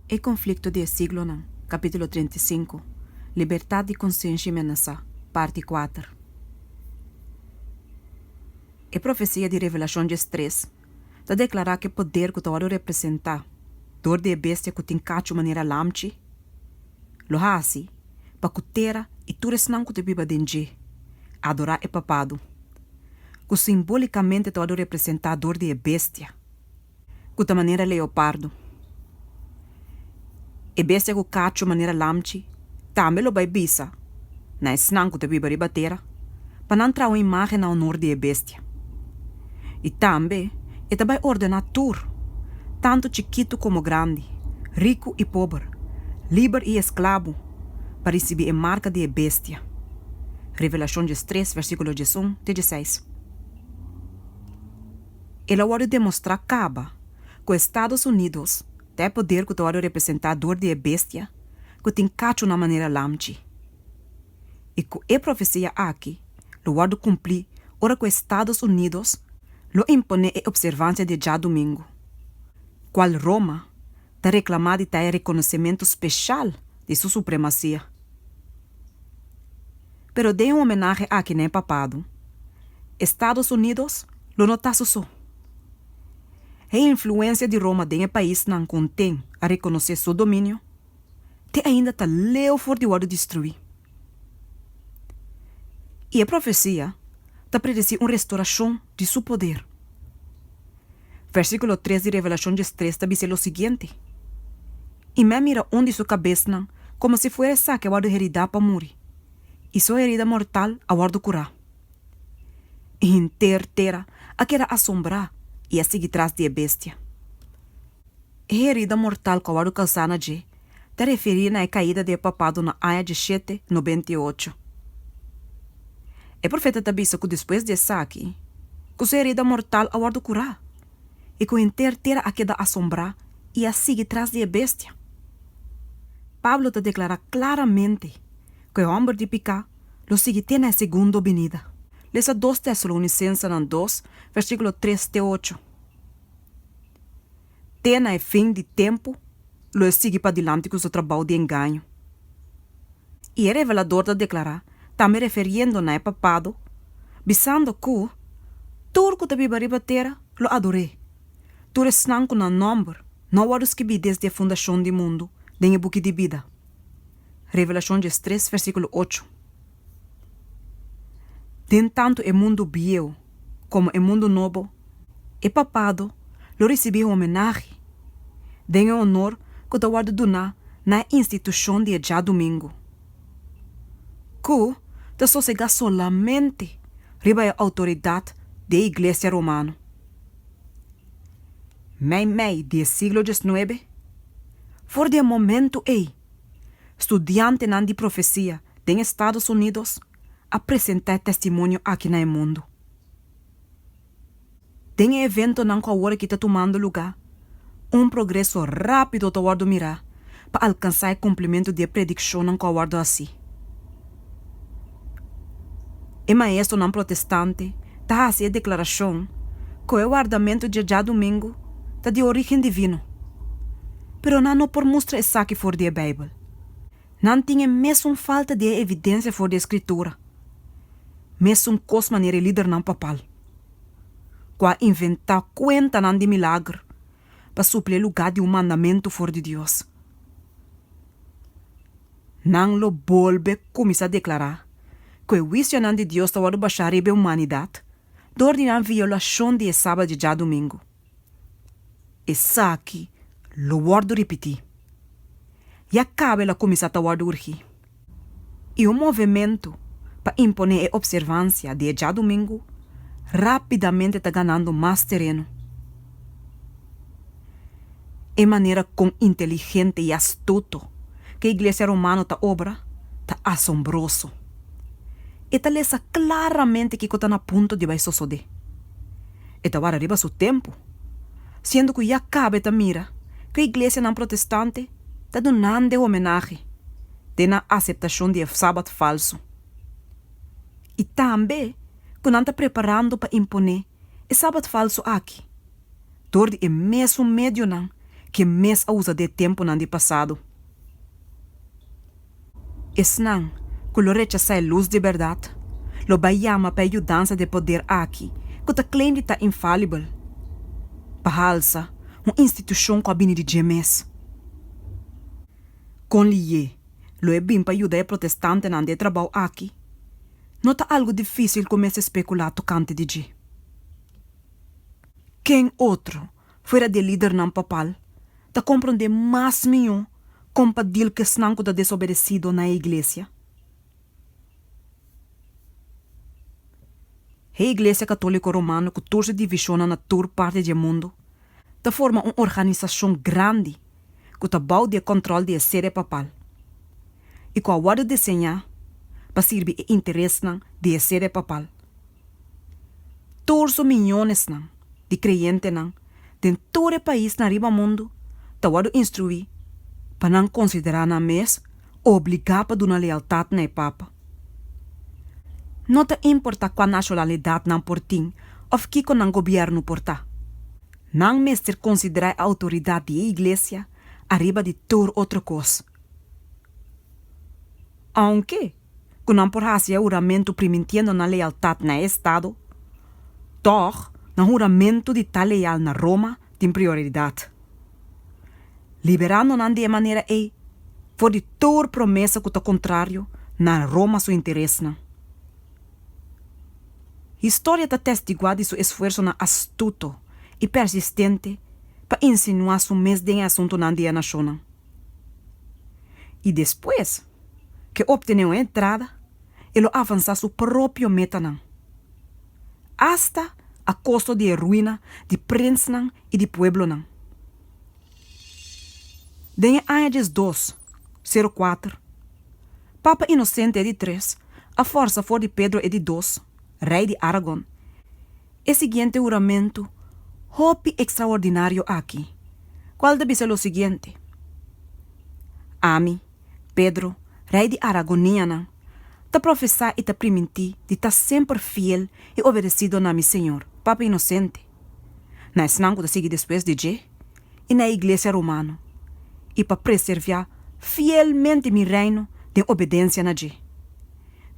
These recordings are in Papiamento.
E konflikto di e siglonan, kapítulo treinta i sinku, Libertat di konsenshi menasá, parti kuater. E profesia di Revelashon djes tres ta deklará ku e poder ku ta wòrdu representá dor di e bestia ku tin kachu manera lamchi lo hasi pa ku tera i tur esnan ku ta biba den dje adorá e Papadu, ku simbólikamente ta wòrdu representá dor di e bestia. ku ta manera leopardo. E bestia ku kachu manera lamchi tambe lo bai bisa na esnan ku ta biba riba tera pa nan traha un imágen na onor di e bestia. I tambe e ta bai ordená tur, tantu chikitu komo grandi, riku i pober, liber i esklabo, pa risibí e marka di e bestia. Revelashon djestres, vèrsikulo djesun te djeseis. el a wòrdu demostrá kaba ku Estados Unidos ta e poder ku ta wòrdu representá dor di e bestia ku tin kachu na manera lamchi, i ku e profesia aki lo wòrdu kumplí ora ku Estados Unidos lo imponé e opservansia di e djadumingu, kual Roma ta reklamá di ta e rekonosementu speshal di su supremasia. Pero den e homenahe aki na e papado, Estados Unidos lo no ta su so. E influensia di Roma den e paisnan konten a rekonosé su dominio te ainda ta leu for di wòrdu destruí. I e profesia ta predesí un restorashon di su poder. Versíkulo tres di Revelashon diestres ta bis'é lo siguiente, I mi a mira un di su kabesnan komo si fuera esaki a wòrdu heridá pa muri, i su herida mortal a wòrdu kurá. I henter tera a keda asombrá i a sigui tras di e Bestia. E herida mortal ku a wòrdu kausá na dje ta referí na e kaida di e papado na aña di shete nobenta i ocho. E profeta ta bisa ku despues di esaki, ku su herida mortal a wòrdu kurá i ku henter tera a keda asombrá i a sigui tras di e Bestia. Pablo ta deklará klaramente ku e hòmber di piká lo sigui te na e segundo binida. Lesa dos Tesalonisensenan dos, versíkulo tres te ocho. Te na e fin di tempu lo e sigui padilanti ku su trabou di engaño. I e revelador ta deklará, tambe referiendo na e Papado, bisando ku, Tur ku ta biba riba tera lo ador'é. Tur esnan ku nan nòmber no a wòrdu skibí desde e fundashon di mundu den e buki di bida. Revelashon djes tres versíkulo ocho, Den tantu e mundu bieu komo e mundu nobo, e papado lo risibí e homenahe den e onor ku ta wòrdu duná na e institushon di e djadumingu, ku ta sosegá solamente riba e outoridat di e Iglesia Romano. Meimei di e siglo djes nuebe, for di e momentu ei, Studiantenan di profesia den Estados Unidos a presenta e testimonio aki na e mundu. Den e eventonan ku awor aki ta tumando lugá, un progreso rápido ta wòrdu mirá pa alkansá e kumplimentu di e predikshonnan ku a wòrdu hasí. E maestronan protestante ta hasi e deklarashon ku e wardamentu dje djadumingu ta di orígen divino, pero nan no por mustra esaki for di e Beibel. Nan tin e mesun falta di e evidensia for di e Skritura, mesun kos manera e lidernan papal, ku a inventá kuentanan di milagr pa supli e lugá di un mandamentu for di Dios. Nan lo bolbe kuminsá deklará ku e huisionan di Dios ta wòrdu bashá riba e humanidat dor di nan violashon di e Sabat di djadumingu. Esaki lo wòrdu ripití. Ya kaba el a kuminsá ta wòrdu urgí. i un movementu pa imponé e opservansia di e djadumingu rápidamente ta ganando mas tereno. E manera con inteligente i astuto cu e Iglesia Romano ta obra ta asombroso. E ta lesa claramente kico ta na punto di bai sosodé. E ta wara riba su tempu. siendo cu ya cabe ta mira cu e iglesianan protestante ta dunande homenahe den nan aceptacion di e Sabat falso y tambe cu nan ta preparando pa impone e Sabat falso aki dor di e mesun medionan cu e mes a usa den e temponan di pasado. Esnan ku lo rechasá e lus di bèrdat lo bai yama pa e yudansa di e poder aki ku ta claim di ta infalibel, bahalsa un institushon ku a bini di dje mes. Kon Lié lo e bin pa yuda e protestantenan di e trabou aki? No ta algu difísil ku mester spekulá tokante di dje. Ken otro fuera di e lidernan papal ta komprondé mas mihó kon pa dil ku esnan ku ta desobedesido na e iglesia. E Iglesia Katóliko Romano ku torse divishonnan na tur parti di e mundu ta forma un organisashon grandi, ku ta bou di e kòntròl di e sede papal i ku a wòrdu deseñá pa sirbi e interesnan di e sede papal. Tur su miñonesnan di kreyentenan den tur e paisnan riba mundu ta wòrdu instruí pa nan konsiderá nan mes obligá pa duna lealtat na e Papa. No ta importá kua nashonalidat nan por tin òf kiko nan gobièrnu por ta. Nan mester konsiderá e outoridat di e iglesia ariba di tur otro kos. Ounke ku nan por hasi e huramentu primintiendo nan lealtat na e estado, tòg nan huramentu di ta leal na Roma tin prioridat, liberando nan di e manera ei for di tur promesa ku ta kontrario na Roma su interesnan. Historia ta testiguá di su esfuersonan astuto i persistente pa insinuá su mes den e asuntunan di e nashonnan. I despues ke optené un entrada, e lo avansá su propio metanan, asta a kosto di e ruina di prinsnan i di pueblonan. Den e aña diesdos, sero kuater, Papa Inosente e di tres a forsa for di Pedro e di dos, Rei di Aragon, e siguiente huramentu hopi ekstraordinario aki, kual ta bisa lo siguiente, Ami, Pedro, Rei di Aragonianan, ta profesá i ta primintí di ta semper fiel i obedesido na mi Señor, Papa Inosente. na esnan ku ta sigui despues di dje, i na e iglesia romano, i pa preserviá fielmente mi reino den obedensia na dje,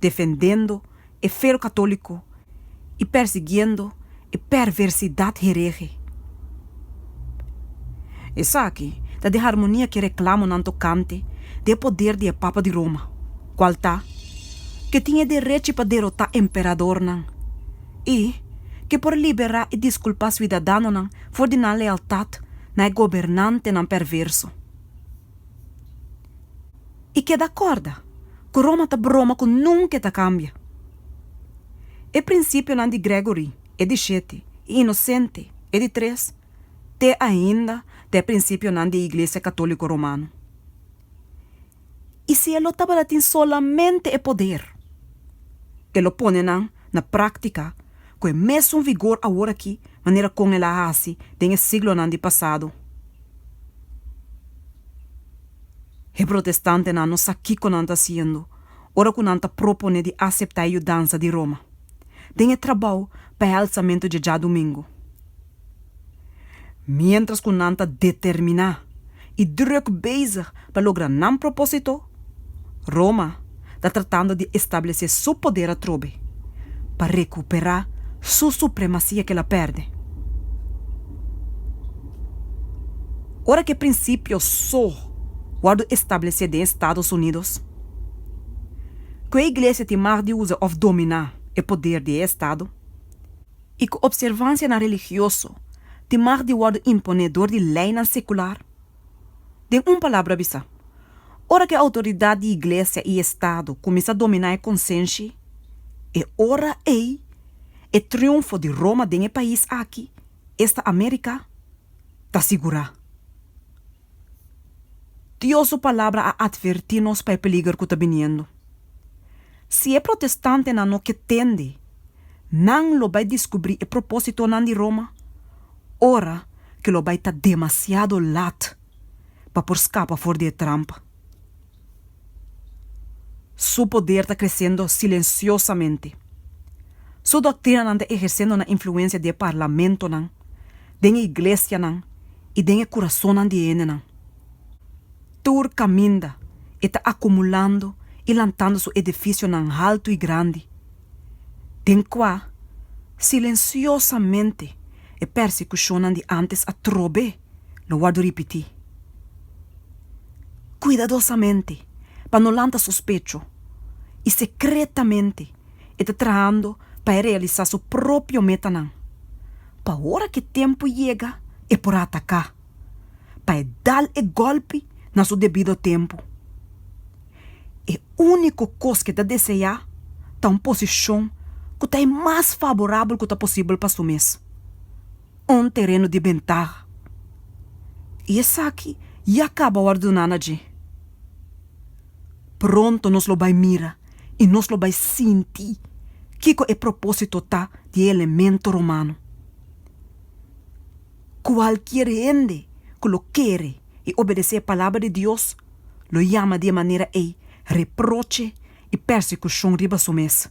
defendendo e feo katóliko i persiguiendo e perversidat herege. Esaki ta di harmonia ku e reklamonan tokante di e poder di e papa di Roma, kual ta, ku e tin e derechi pa derotá emperadornan. i ke por liberá i diskulpá suidadanonan for di nan lealtat na e gobernantenan perverso. I keda kòrda ku Roma ta broma ku nunke ta kambia. E prinsipionan di Gregory, e di shete, i Inosente, e di tres, te ainda ta e prinsipionan di e Iglesia Katóliko Romano. I si e lo tabata tin solamente e poder, e lo pone nan na práktika ku e mesun vigor aworakí manera kon el a hasi den e siglonan di pasado. E protestantenan no sa kiko nan ta hasiendo ora ku nan ta proponé di aseptá e yudansa di Roma den e trabou pa e halsamentu dje djadumingu. Miéntras ku nan ta determiná i drùk bezig pa logra nan propósito, Roma ta tratando di establesé su poder atrobe pa rekuperá su supremasia ku el a pèrdè. Ora ku e prinsipio so wòrdu establesé den Estados Unidos, ku e iglesia tin mag di usa òf dominá e poder di e estado, i ku opservansianan religioso tin mag di wòrdu imponé dor di leinan sekular? Den un palabra bisá, ora ku e outoridat di iglesia i estado kuminsá dominá e konsenshi, e ora ei e triunfo di Roma den e pais aki, esta Amérika, ta sigurá. Dios su Palabra a atvertí nos pa e peliger ku ta biniendo. Si e protestantenan no ke tende, nan lo bai diskubrí e propósitonan di Roma ora ke lo bai ta demasiado lat pa por skapa for di e trampa. Su poder ta kresendo silensiosamente. Su doktrinanan ta ehersendo nan influensia den parlamentonan, den e iglesianan i den e kurasonnan di e hendenan. Tur kaminda e ta akumulando i lantando su edifisionan haltu i grandi, den kua silensiosamente e pèrsikushonnan di ántes a trob'é. lo wordo ripití kuidadosamente pa no lanta sospecho i sekretamente e ta trahando pa e realisá su propio metanan, pa ora ku e tempu yega e por ataká, pa e dal e gòlpi na su debido tempu. E úniko kos ku e ta deseá ta un posishon ku ta e mas faborabel ku ta posibel pa su mes. un tereno di bentaha, i esaki ya kaba wòrduná na dje. Pronto nos lo bai mira i nos lo bai sinti kiko e propósito ta di e elemento romano. Kualkier hende ku lo kere i obedesé e palabra di Dios lo yama di e manera ei reproche i persekushon riba su mes.